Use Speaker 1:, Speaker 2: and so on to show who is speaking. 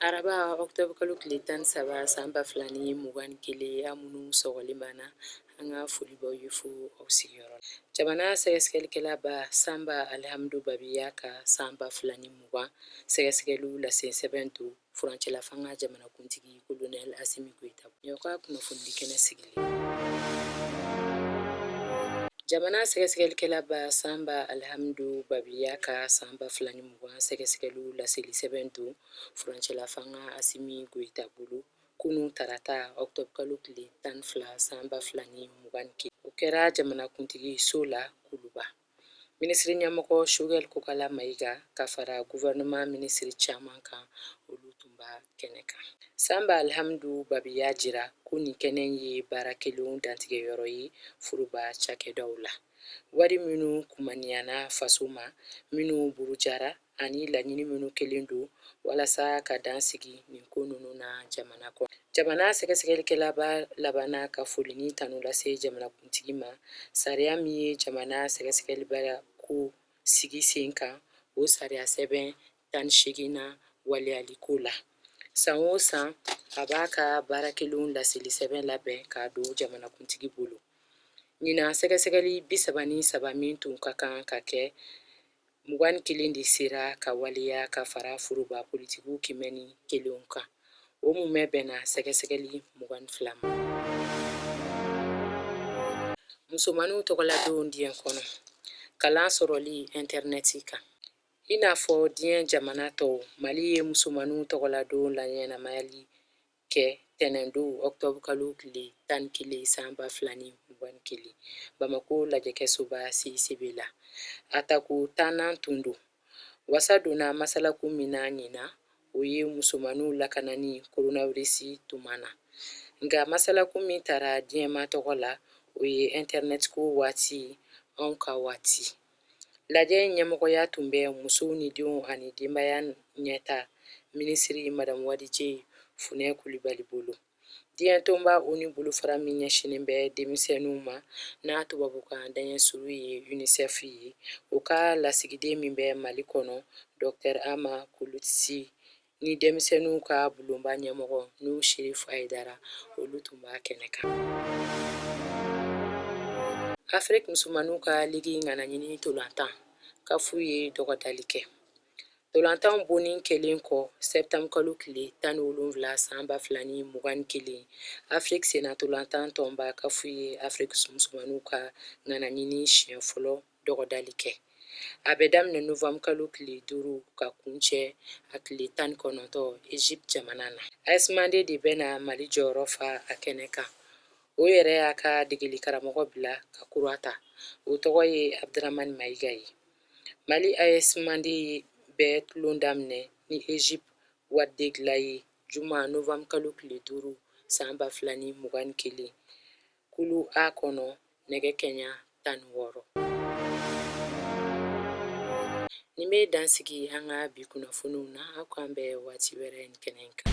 Speaker 1: Araba octobre kalo tile 13 san 2021 aw minnu sɔgɔlen b'an na, an ka foli b'aw ye fo aw sigiyɔrɔ la. Jamana sɛgɛsɛgɛlikɛla ba Sanba Alihamdu Babi y'a ka san 2020 sɛgɛsɛgɛliw lase sɛbɛn don. furancɛla fanga jamanakuntigi kolonɛli asimi goyita ɲɔ ka kunnafonidi kɛnɛ sigili jamana sɛgɛsɛgɛlikɛlaba sanba alihamidu babi y'a ka san ba fila ni mugan sɛgɛsɛgɛliw laseli sɛbɛn don furancɛla fanga asimi goyita bolo kunu tarata ɔktɔbukalo tile tan ni fila san ba fila ni mugan ni kelen o kɛra jamanakuntigi so la kuluba minisiri ɲɛmɔgɔ shogɛli kokala mayiga ka fara guvɛrɛnɛman minisiri caman kan olu tun b'a kɛnɛ kan sanba alihamidu babi y'a jira ko nin kɛnɛ ye baara kɛlenw dantigɛ yɔrɔ ye furuba cakɛdaw la wari minnu kumaniyana faso ma minnu burujara ani laɲini minnu kɛlen don walasa ka dan sigi nin ko ninnu na jamana kɔnɔ jamana sɛgɛsɛgɛlikɛlaba labanna ka foli ni tanu lase jamanakuntigi ma sariya min ye jamana sɛgɛsɛgɛlibaya ko sigi sen kan o sariya sɛbɛn tan ni seeginnan waleyaliko la san o san a b'a ka baara kɛlenw laseli sɛbɛn labɛn k'a don jamanakuntigi bolo ɲinan sɛgɛsɛgɛli bi saba ni saba min tun ka kan ka kɛ mugan ni kelen de sera ka waleya ka fara foroba politigiw kiimɛni kelen kan o mumɛ bɛnna sɛgɛsɛgɛli mugan ni fila ma musomanninw tɔgɔladon diɲɛ kɔnɔ kalan sɔrɔli intɛrinɛti kan i n'a fɔ diɲɛ jamana tɔw mali ye musomanninw tɔgɔladon laɲɛnamayali kɛ tɛnɛndon ɔktɔbu kalo tile tan ni kelen san ba fila ni mugan ni kelen bamako lajɛkɛsoba CICB la a tako tannan tun don wasa donna masalakun min na ɲinan o ye musomanninw lakanani koronawirisi tuma na nka masalakun min tara diɲɛma tɔgɔ la o ye intɛrɛnɛtiko waati anw ka waati Lajɛ in ɲɛmɔgɔya tun bɛ musow ni denw ani denbaya ɲɛtaa minisiri madamu wadije funɛ kulibali bolo diɲɛtɔnba oni bolofara min ɲɛsinnen bɛ denmisɛnninw ma n'a tubabukan daɲɛsurun ye unicef ye o ka lasigiden min bɛ mali kɔnɔ dɔktɛr ama kulutisi ni denmisɛnninw ka bulonba ɲɛmɔgɔ nuhun sherifu ayidara olu tun b'a kɛnɛ kan afiriki musomanninw ka ligi ŋanaɲini tolantan kafu ye dɔgɔdali kɛ tolantan bonin kɛlen kɔ sɛtanburukalo tile tan ni wolonwula san ba fila ni mugan ni kelen afiriki senna tolantan tɔnba kafu ye afiriki musomanninw ka ŋanaɲini siɲɛ fɔlɔ dɔgɔdali kɛ a bɛ daminɛ novembre kalo tile duuru ka kuncɛ a tile tan ni kɔnɔntɔ egypte jamana na as mande de bɛ na mali jɔyɔrɔ fa a kɛnɛ kan o yɛrɛ y'a ka degeli karamɔgɔ bila ka kura ta o tɔgɔ ye abdramani mayiga ye mali as mande bɛ tulon daminɛ ni egypte wadi degla ye juma novembre kalo tile duuru san ba fila ni mugan ni kelen Kulu A kɔnɔ nɛgɛ kɛɲa tan ni wɔɔrɔ. Nin bɛ dansigi an ka bi kunnafoniw na, aw k'an bɛn waati wɛrɛ nin kɛnɛ in kan.